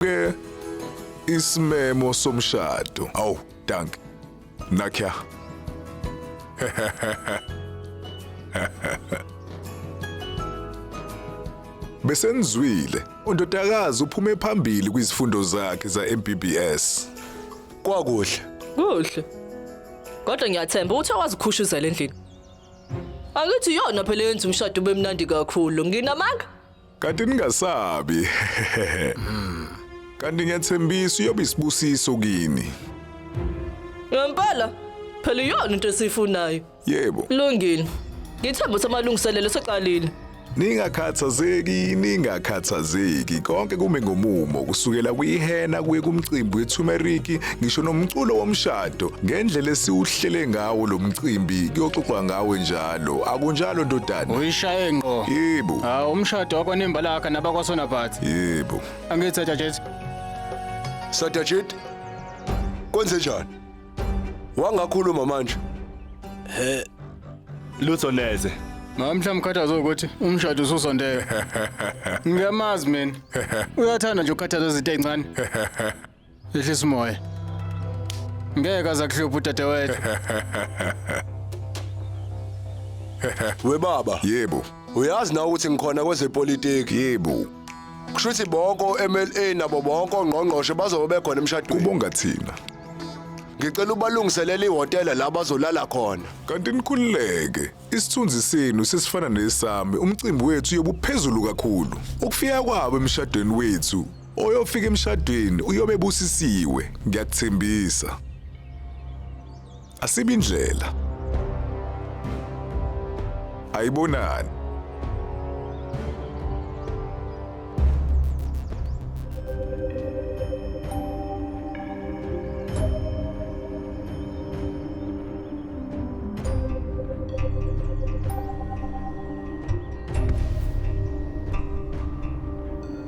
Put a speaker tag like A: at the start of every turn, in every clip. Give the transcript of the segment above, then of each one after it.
A: ke isimemo somshado. Aw, dank. Nakya. Besenizwile, undodakazi uphume phambili kwizifundo zakhe za-MBBS. Kwakuhle.
B: Kuhle.
C: Kodwa ngiyathemba ukuthi awazikhushuzela endlini. Angithi yona phela yenza umshado ube mnandi kakhulu. Nginamanga? Kanti
A: ningasabi. Kanti ngiyathembisa uyobe isibusiso kini.
C: Ngempela phela iyona into esiyifunayo. Yebo. Lungile. Ngithemba ukuthi amalungiselelo seqalile. Ningakhathazeki,
A: ningakhathazeki. Konke kume ngomumo, kusukela kwihena kuye kumcimbi weTumeriki, ngisho nomculo womshado. Ngendlela esiwuhlele ngawo lo mcimbi, kuyoxoxwa ngawe njalo. Lo akunjalo ndodana. Uyishaye ngqo.
D: Yebo. Ah umshado
A: wakho
D: nembalaka nabakwasona but. Yebo.
A: Angithi Satajeti.
B: Satajeti. Kwenze njani? Wangakhuluma manje. He.
E: Lutho neze. Ngamhla mkhathazo
D: ukuthi umshado ususondele. Ngiyamazi mina. Uyathanda nje ukukhathaza izinto ezincane. Ehlisa umoya. Ngeke aza kuhlupha udadewethu.
B: We baba, Yebo, uyazi
A: na ukuthi
B: ngikhona kwezepolitiki. yebo.
A: Kusho ukuthi
B: bonke o-MLA nabo bonke ongqongqoshe bazobe bekhona emshadweni. Kubonga thina.
A: Ngicela
B: ubalungiselele ihhotela la bazolala khona. Kanti nikhululeke.
A: Isithunzi senu sesifana nesami. Umcimbi wethu uyobuphezulu kakhulu. Ukufika kwabo emshadweni wethu Oyofika emshadweni uyobe busisiwe, ngiyakuthembisa. Asibi indlela. Ayibonani.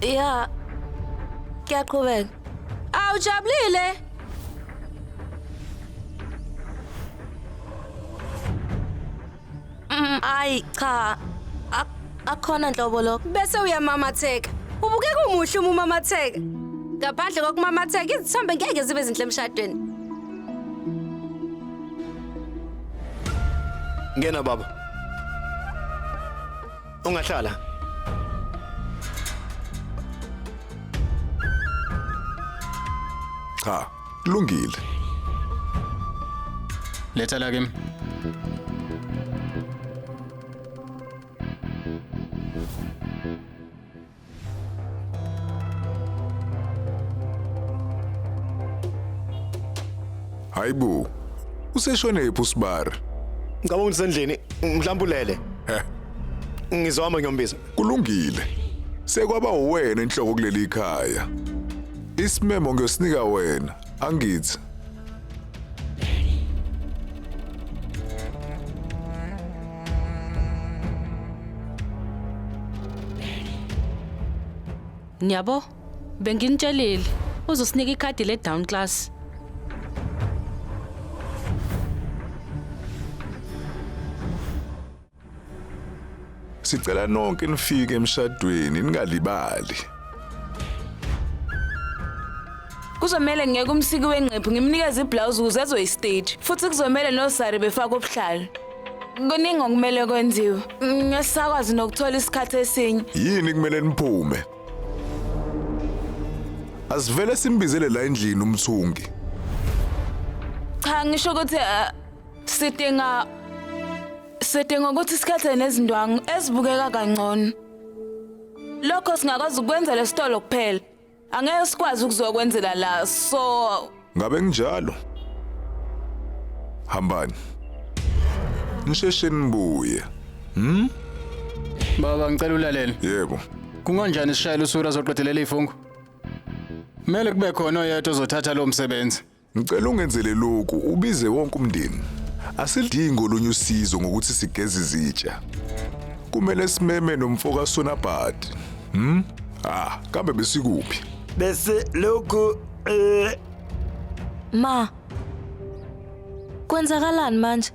F: Ya. Kuyaqhubeka. Aw ujabulile. Mm, Ayi cha. Ak- Akhona nhlobo lokho. Bese uyamamatheka.
G: Ubukeka umuhle uma umamatheka. Ngaphandle kokumamatheka izithombe ngeke zibe zinhle emshadweni.
E: Ngena baba. Ungahlala.
A: Cha, kulungile.
D: Letha la kimi.
A: Hayibo. Useshone yephi uSibari? Ngicabanga ukuthi
E: sendlini mhlawumbe ulele. Heh. Ngizohamba ngiyombiza. Kulungile.
A: Sekwaba uwena inhloko kuleli ikhaya. Isimemo ngiyosinika wena. Angithi.
H: Niyabo? Benginitshelile uzosinika ikhadi le down class.
A: Sicela nonke nifike emshadweni ningalibali.
I: Kuzomele ngeke umsiki wengqephu ngimnikeze iblouse ukuze ezoyistage futhi kuzomele nosari befake ubuhlalu. Kuningi okumele kwenziwe. Ngesakwazi nokuthola isikhathi esinye. Yini kumele niphume?
A: Asivele simbizele la endlini umthungi.
I: Cha ngisho ukuthi ah, Sidinga sidinga ukuthi sikhethe nezindwangu ezibukeka kangcono. Lokho singakwazi ukwenza lesitolo kuphela. Angeke sikwazi ukuzokwenzela la. So Ngabe nginjalo.
A: Hambani. Nisheshe nibuye. Hmm?
D: Baba ngicela ulalele. Yebo.
A: Kunganjani sishayela
D: usura zoqedelela ifungu? Mele kube khona oyedwa ozothatha lo msebenzi. Ngicela ungenzele
A: lokhu ubize wonke umndeni. Asilidingi olunye usizo ngokuthi sigeze izitsha. Kumele simeme nomfoka Sonabhadi. Hm? Ah, kambe besikuphi? Bese
E: lokhu eh
F: Ma. Kwenzakalani manje?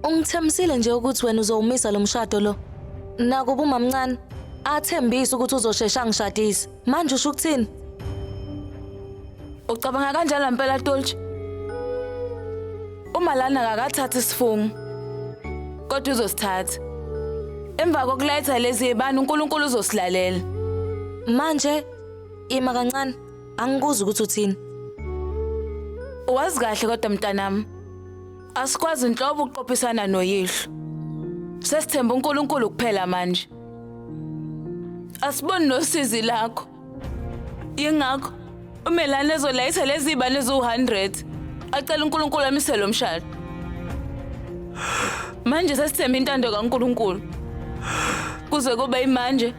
F: Ungithembisile nje ukuthi wena uzowumisa lo mshado lo. Nakuba umamncane athembisa ukuthi uzoshesha ngishadise. Manje usho ukuthini?
I: Ucabanga kanjalo mpela Tolch? Uma lana akakathathi isifungo. Kodwa uzosithatha. Emva kokuletha lezi yebani uNkulunkulu uzosilalela. Manje
F: ima kancane angikuzi ukuthi uthini.
I: Wazi kahle kodwa mntanami. Asikwazi nhlobo ukuqophisana noyihlo. Sesithemba uNkulunkulu kuphela manje. Asiboni nosizi lakho. Yingakho uMelane ezolayisa lezi ibane eziwu-100 acela uNkulunkulu amise lo mshado. Manje sesithemba intando kaNkulunkulu. Kuze kube imanje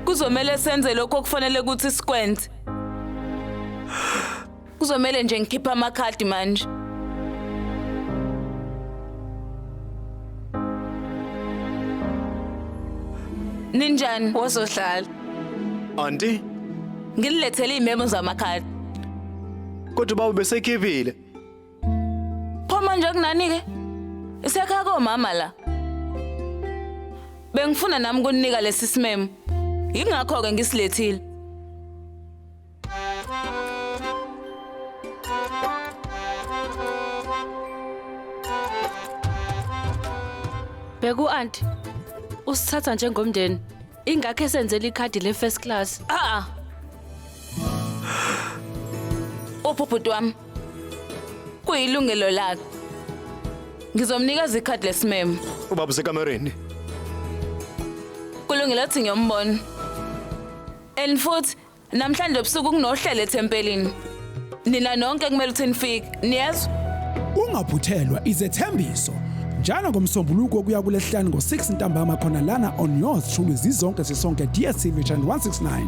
I: kuzomele senze lokho okufanele ukuthi sikwenze. Kuzomele nje ngikhiphe amakhadi manje. Ninjani wozohlala? Auntie, Nginilethele imemo zamakhadi.
E: kodwa baba besekhiphile.
I: Pho manje kunani ke? Isekhaya komama la. Bengifuna nami kuninika lesi simemo. Yingakho ke ngisilethile.
H: Bheka u-anti usithatha njengomndeni ingakho esenzela ikhadi le-first class a-a
I: uphi ubhuti wami kuyilungelo lakhe ngizomnikeza ikhadi lesimemo ubaba usekamereni kulungile athi ngiyombona and futhi Namhlanje ebusuku kunohlelo ethempelini. Nina nonke kumele ukuthi nifike. Niyezwa? Ungaphuthelwa
J: izethembiso njalo ngomsombuluko kuya kulesihlanu ngo-6 ntambama khona lana on yours shulu zizonke sisonke DSTV channel 169.